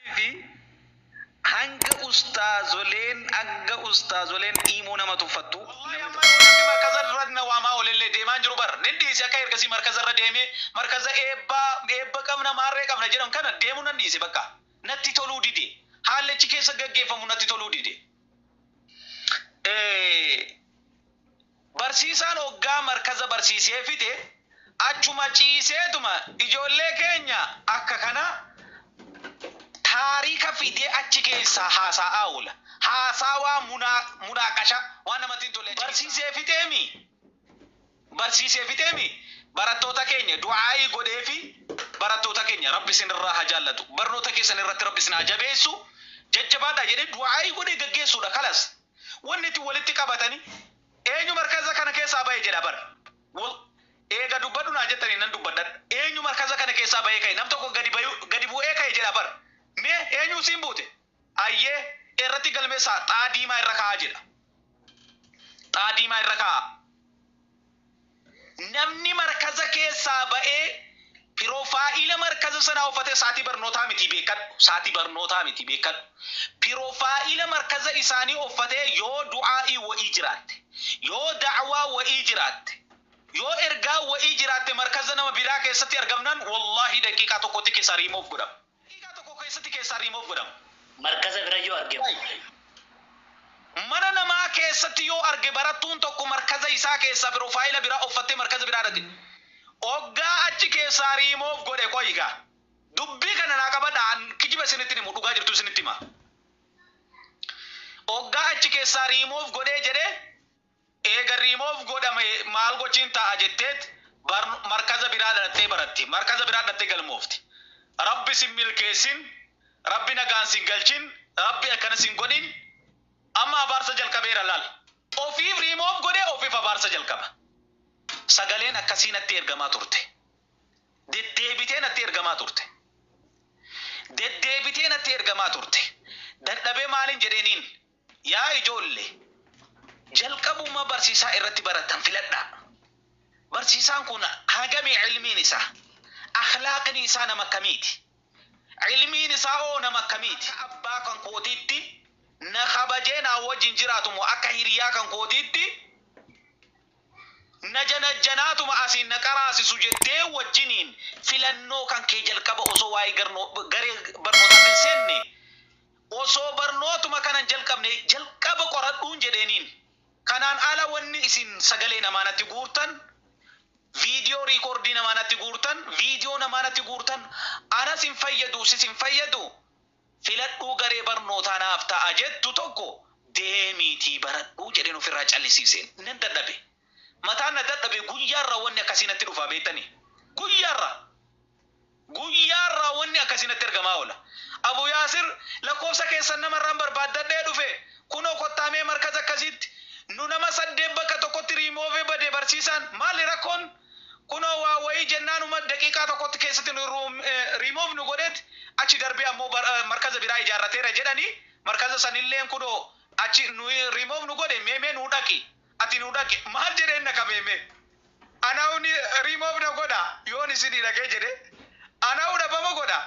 Malifi hanga ustaazoleen hanga ustaazoleen iimoo nama tuffattu namni tokko. Wly amma namni markaza irra na waamaa olelle deemaan jiru bar nin dhiise akka ergasii markaza irra deemee markaza eebbaa eebba qabna maarree qabna jedhan kana deemu nan dhiise bakka natti toluu dide haalli achi keessa gaggeeffamu natti toluu dide. Barsiisaan oggaa markaza barsiisee fixe achuma ciiseetuma ijoollee keenya akka kana taariika fidee achi keessaa haasaa'aa oola. Haasaawaa munaaqashaa waan namatti hin tolle achi keessaa. Barsiisee fixeemii barsiisee fixeemii barattoota keenya du'aa'ii godheefi barattoota keenya rabbi isin irraa haa jaallatu barnoota keessan irratti rabbi isin haa jabeessu jajjabaadhaa jedhee du'aa'ii godhee gaggeessuudha kalas. Wanni itti walitti qabatani eenyu markaza kana keessaa bahe jedha bar wol eega dubbadhu naan jettani nan dubbadhadha eenyu markaza kana keessaa bahee kahe nam tokko gadi bayu gadi bu'ee kahe jedha bar mee eenyu isiin buute ayyee irratti galmeessaa xaa diimaa irra ka'aa jedha xaa diimaa irra ka'aa Namni markaza keessaa ba'ee pirofaayila markaza sanaa uffate saatii barnootaa mitii beekkadhu saatii barnootaa mitii beekkadhu pirofaayila markaza isaanii uffatee yoo du'aa'ii wa'ii jiraatte yoo da'awaa wa'ii jiraatte yoo ergaa wa'ii jiraatte markaza nama biraa keessatti argamnaan wallaahii daqiiqaa tokkotti kesaa remove godhama Daqiiqaa tokko keessatti keessaa remove godhama. Markaza bira yoo arge moo. Like. Mana namaa keessatti yoo arge barattuun tokko markaza isaa keessaa pirofayila biraa offattee markaza biraa dhaqxe. Oggaa achi keessaa remove godhe qoyi gaa. Dubbii kana naa qabadhaa an kijiba isinitti hin himu dhugaa jirtuu isinitti hima. Oggaa achi keessaa remove godhee jedhee. Eega remove godhame maal gochiin ta'a jetteet markaza biraa dhaxxee baratti markaza biraa dhaxxee galmoofti rabbi sin milkeessin rabbi nagaan sin galchin rabbi akkana sin godhin amma abaarsa jalqabeera laal ofiif remove godhee ofiif abaarsa jalqaba sagaleen akkasii natti ergamaa turte deddeebitee natti ergamaa turte deddeebitee natti ergamaa turte dadhabee maalin jedheeniin Yaa ijoolle, jalqabuma barsiisaa irratti barattan filadhaa. Barsiisaan kun hagami ilmiin isaa? Akhlaaqni isaa nama akkamiiti? Ilmiin isaa hoo nama akkamiiti? Akka abbaa kan kootiitti na kabajee naa wajjin jiraatu moo akka hiriyaa kan kootiitti na janajjanaatuma asiin na qaraasisu jettee wajjiniin filannoo kan kee jalqaba osoo waa'ee garee barnootaatti hin seenne Osoo barnootuma kanan jalqabne jalqaba qoradhuun jedheeniin. Kanaan ala wanni isin sagalee namaa natti guurtan, viidiyoo riikoordii namaa natti guurtan, viidiyoo namaa natti guurtan anas hin fayyadu sis hin fayyadu filadhuu garee barnootaa naaf ta'a jettu tokko deemiitii baradhu jedheen ofirraa callisiiseen. Nan dadhabe. Mataan na dadhabe guyyaarraa wanni akkasii natti dhufaa beettani? Guyyaarraa! Guyyaarraa wanni akkasii natti ergamaa oola. Abu Yaasir, Lakkoofsa keessan namarraan barbaaddadhee dhufe. Kunoo kottaa mee markaza akkasiitti. Nu nama saddeet bakka tokkotti remove bade barsiisaan. Maali rakkoon? Kunoo waa wayii jennaanuma daqiiqaa tokkotti keessatti nu remove nu godheet achi darbee ammoo markaza biraa ijaarrateera jedhani markaza sanilleen kunoo achi nu remove nu godhe mee mee nuu dhaqi Ati nu dhaqi maal jedheen na qabee mee Anahu ni remove na godha yoon isinii dhaqee jedhe Anahu dhabama godha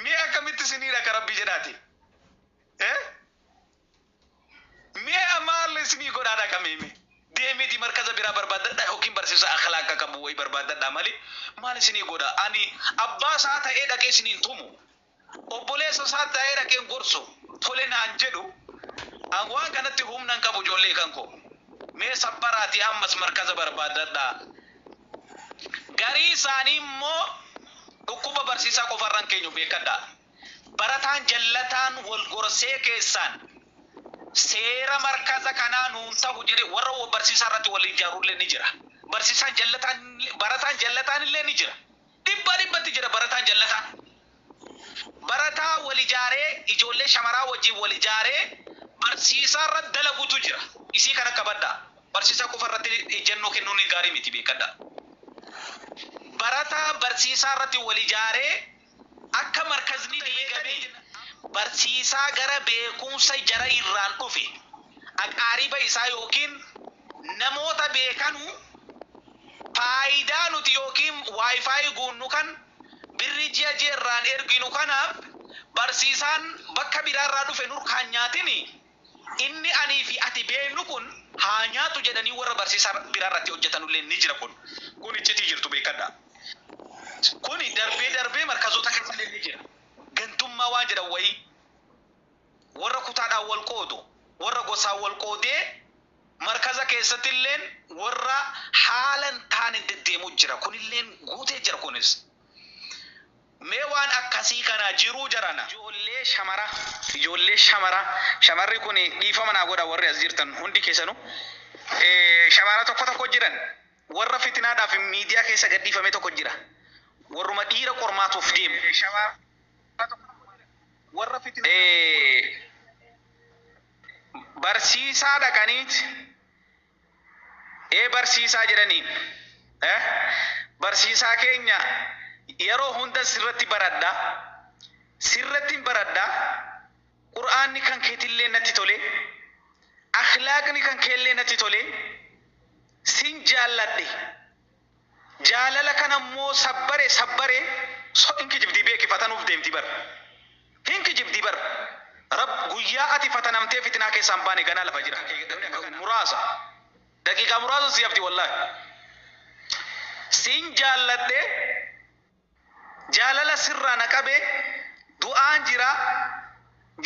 mee akkamitti isinii dhaqa rabbii jedhaati eh mee amaal isinii godhaa dhaqa mee mee deemiti markaza biraa barbaadadha yookiin barsiisa akhlaaqa qabu wayi barbaadadha mali maal isinii godha ani abbaa isaa ta'ee dhaqee isiniin tumu Obboleessa isaa taa'ee dhaqeen gorsu tole naan jedhu an waan kanatti humna hin qabu ijoollee kan koo mee sabbaraatii ammas markaza barbaaddadhaa garii isaanii immoo dhukkuba barsiisaa qofa irra hin keenyu beekkadhaa barataan jallataan wal gorsee keessaan seera markaza kanaa nuun tahu jedhee warra barsiisaa irratti wal ijaarullee ni jira barsiisaan jallataan barataan jallataan illee ni jira Dhibbaa dhibbatti jira barataa jallataa barataa wal ijaaree ijoollee shamaraa wajjin wal ijaaree barsiisaa irra dalagutu jira isii kana qabadhaa barsiisaa qofa irratti ejjannoo kennuun gaarii miti beekadhaa barataa barsiisaa irratti wal ijaaree akka markazni diigamee barsiisaa gara beekumsa jara irraan dhufe aqaariba isaa ykn Namoota beekanu faayidaa nuti ykn Wi-Fi guunnu kan birrii ji'a ji'a irraan erginu kanaaf barsiisaan bakka biraa irraa dhufe nurkaan nyaatin inni anii fi ati beeknu kun haa nyaatu jedhanii warra barsiisa biraa irratti hojjatanu illee ni jira kun kun iccitii jirtu beekadha kuni darbee darbee markazoota keessa illee ni jira gantummaa waan jedhan wayii Warra kutaadhaan wal qoodu, warra gosaan wal qoodee markaza keessatilleen warra haala hin taaneen deddeemu jira. Kunilleen guutee jira kunis. Mee waan akkasii kanaa jiruu jarana. Ijoollee shamara ijoollee shamara shamarri kun dhiifama naa godha warri as jirtan hundi keessanu shamara tokko tokko jiran warra fitinaadhaaf miidiyaa keessa gadhiifamee tokko jira warruma dhiira qormaatuuf deemu. barsiisaa dhaqaniit ee barsiisaa jedhaniin barsiisaa keenya yeroo hunda sirratti baradha sirrattiin baradha qur'aanni kan keetillee natti tole akhlaaqni kan keellee natti tole sin jaalladhe Jaalala kana immoo sabbare sabbare so hin kijibdii beeki fatanuuf deemti bar hin kijibdii bar rabb guyyaa ati fatanamtee fitinaa keessaa hin baane ganaa lafa jira namni akka kana muraasa daqiiqaa muraasa sii hafti wallahi siin jaalladhe Jaalala sirraa na qabe du'aan jira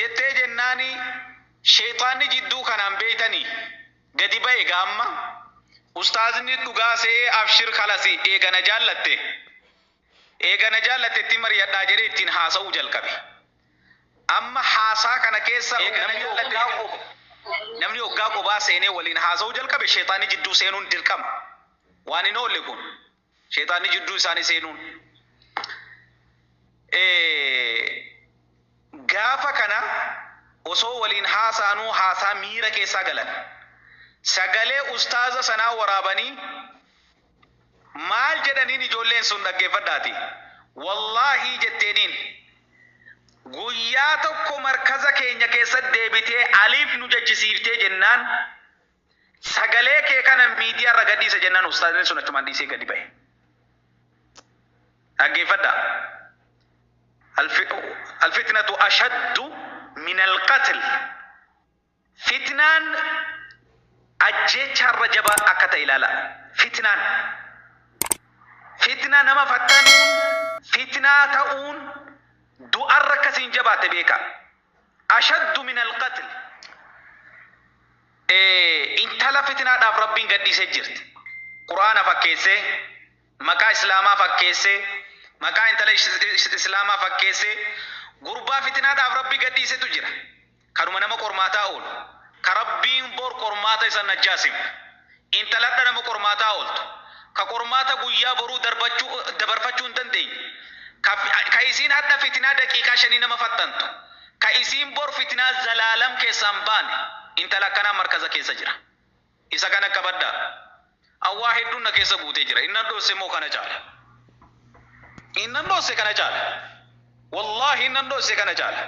jettee jennaani sheyxaanni jidduu kanaan beeytani gadi bahe gaa amma ustaazni dhugaa se'ee abshir kalasi eega na jaallatte eega na jaallatte itti maryadhaa jedhee ittiin haasa'uu jalqabe amma haasaa kana keessa namni oggaa qobaa seenee waliin haasa'uu jalqabe sheyxaanni jidduu seenuun dirqama waan hin oolle kun. Sheexaanni jidduu isaanii seenuun gaafa kana osoo waliin haasa'anuu haasaa miira keessaa galan. Sagalee ustaaza sanaa waraabanii maal jedhaniin ijoolleen sun dhaggeeffadhaati. Wallaahii jetteeniin guyyaa tokko markaza keenya keessatti deebitee aliif nu jechisiiftee jennaan Sagalee kee kana miidiyaa irra gadhiisa jennaan ustaazni sun achumaan dhiisee gadi bahe. Dhaggeeffadha. Alfitnatu ashaddu minal qatl. Fitnaan ajjeechaa irra jabaa akka ta'e ilaala. Fitnaan. Fitnaa nama fattanuun, fitnaa ta'uun du'arra akkasiin jabaatte beeka. ashaddu minal qatl intala fitinaadhaaf rabbiin gadhiisee jirti qur'aana fakkeessee maqaa islaamaa fakkeessee maqaa intala islaamaa fakkeessee gurbaa fitinaadhaaf rabbi gadhiisetu jira kanuma nama qormaataa oolu ka rabbiin bor qormaata isa najjaasim Intaladha nama qormaataa ooltu, ka qormaata guyyaa boruu darbachuu, dabarfachuu hin dandeenye, ka, ka isiin hadha fitinaa daqiiqaa shanii nama faxxantu, ka isiin bor fitinaa zalaalam keessaa hin baane, intala akkanaa markaza keessa jira. Isa kana qabadhaa. An waa hedduun na keessa guutee jira. Innan dhosse moo kana caala? Innan dhosse kana caala? Wallaahi nan dhosse kana caala.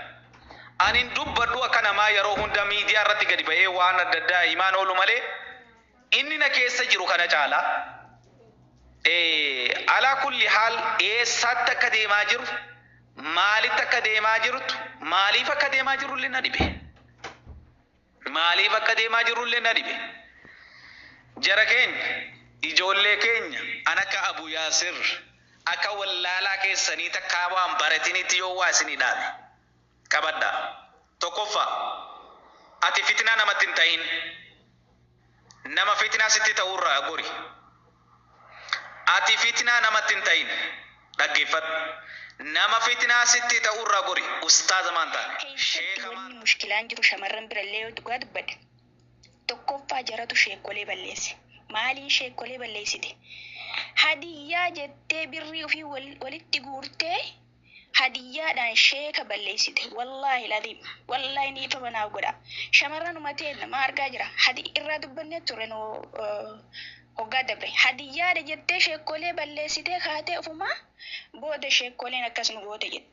An hin dubbadhu akka namaa yeroo hunda miidiyaa irratti gadi ba'ee waan adda addaa himaan oolu malee inni na keessa jiru kana caala. Eh, alaa kulli haal eessaatti akka deemaa jiru, maalitti akka deemaa jirtu, maaliif akka deemaa jirullee na dhibe. Maaliif akka deemaa jirrullee na dhibe. Jara keenya, ijoollee keenya an akka Abu Yaasir, akka wallaalaa keessanii takkaa waa hin baratiniitti yoo waa isinii dhaame. Qabadhaa. Tokkoffaa, ati fitnaa namatti hin tahin. Nama fitnaa sitti ta'u irraa gori. Ati fitnaa namatti hin ta'in. Dhaggeeffadhu. Nama fitnaa sitti ta'u irraa gori. Ustaaza maan taane. Keessatti Sheekha maan. wanni mushkilaan jiru shamarran birallee yoo dhugaa dubbadhe tokkoffaa jaratu sheekkolee balleesse. Maaliin sheekkolee balleessite? Hadiyyaa jettee birrii ufii wal walitti guurtee hadiyyaadhaan sheeka balleessite wallaahi laziim wallaahi dhiifama naaf godhaa shamarranuma teenna maa argaa jira hadi irraa dubbannee turre nu hoggaa dabre hadiyyaadha jettee sheekkolee balleessitee kaatee ofumaa booda sheekkoleen akkas nu goote jetti.